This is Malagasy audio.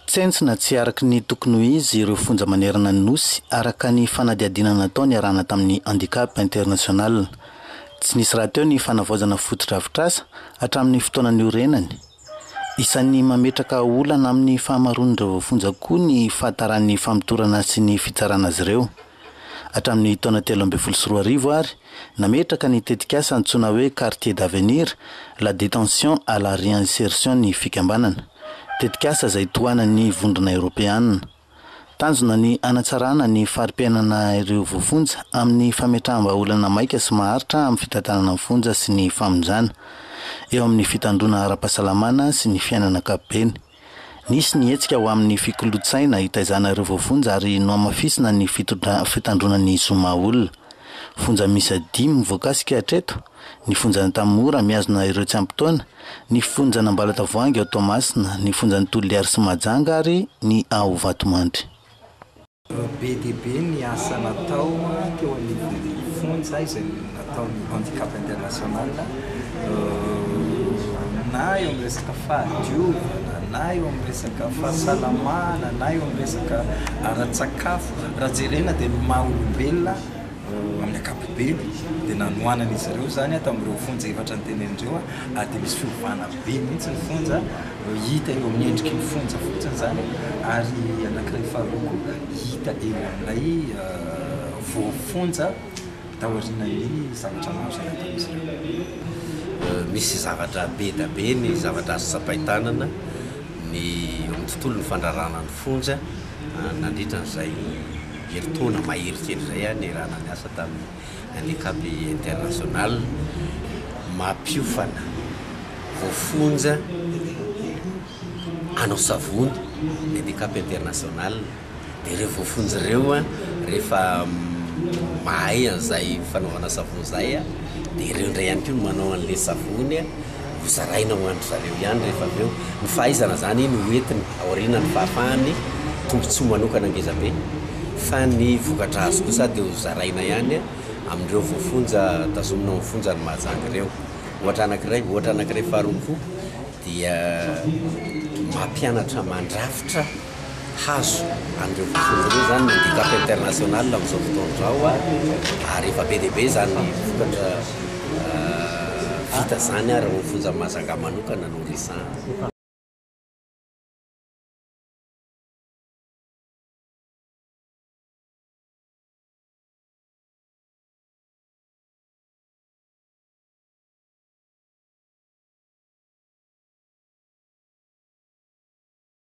Tsentsina tsy araka ny tokony ho izy ireo fonja manerana ny Nosy araka ny fanadihadiana natao niarahana tamin'ny Handicap International. Tsy nisy rahateo ny fanavaozana fotodrafitrasa hatramin'ny fotoana niorenany. Isan'ny mametraka olana amin'ny fahamaroan'ireo voafonja koa ny fahataran'ny famotorana sy ny fitsarana azy ireo. Hatramin'ny taona telo ambin'ny folo sy roa arivo ary, nametraka ny tetikasa antsoina hoe Quartier d'Avenir, la Détention à la Réinsertion ny fikambanana. Tetikasa izay tohanan'ny Vondrona Eoropeana. Tanjona ny hanatsarana ny fari-piainana ireo voafonja amin'ny fametraham-bahaolana maika sy maharitra amin'ny fitantanana ny fonja sy ny famonjana eo amin'ny fitandroana ara-pahasalamana sy ny fiainana ankapobeny. Nisy ny hetsika ho amin'ny fikolotsaina hitaizana ireo voafonja ary nohamafisina ny fitondra fitandroana ny zo maha-olona. Fonja miisa dimy voakasika hatreto. ny fonjan'Antanimora, mihazona ireo tsy ampy taona, ny fonjan'Ambalatavoahangy ao Toamasina, ny fonjan'i Toliary sy Mahajanga ary ny ao Vatomandry. Be dia be ny asa natao teo anivon'ny fonja izay nataon'ny Handicap International na eo amin'ny resaka fahadiovana na eo amin'ny resaka fahasalamana na eo amin'ny resaka ara-tsakafo. Raha jerena dia ny maha olombelona Amin'ny ankapobeny dia nanohanan'izy ireo izany aho tamin'ireo fonja efatra notenenin'ireo aho ary dia misy fiovana be mihitsy ny fonja hita eo amin'ny endriky ny fonja fotsiny izany ary anankiray faharoa koa hita eo amin'ilay voafonja taorianan'ny zavatra maro izay nataon'izy ireo. Misy zavatra be dia be ny zavatra azo tsapain-tanana ny eo amin'ny tontolon'ny fandraràna ny fonja nandritra an'izay herintaona mahery kely izay aho nierana niasa tamin'ny Handicap International, mampiofana voafonja hanao savony ny Handicap International, dia ireo voafonja ireo rehefa mahay an'izay fanaovana savony izay dia ireo indray ihany koa no manao an'ilay savony. Ho zaraina ho an-dry zareo ihany rehefa avy eo ny fahaizana izany no ho entiny aoriana ny fahafahany, tombontsoa manokana ngezabe, fa ny vokatra azo kosa dia ho zaraina ihany amin'ireo voafonja tazomina ao amin'ny fonjan'i Mahajanga ireo. Ohatra anankiray, ohatra anankiray faharoa koa dia mampianatra mandrafitra. hahazo an'ireo vokany ireo izany ny handicap international amin'izao fotoana izao ary efa be dia be izany vokatra vita izany ary ny fonja Mahajanga manokana no resahana.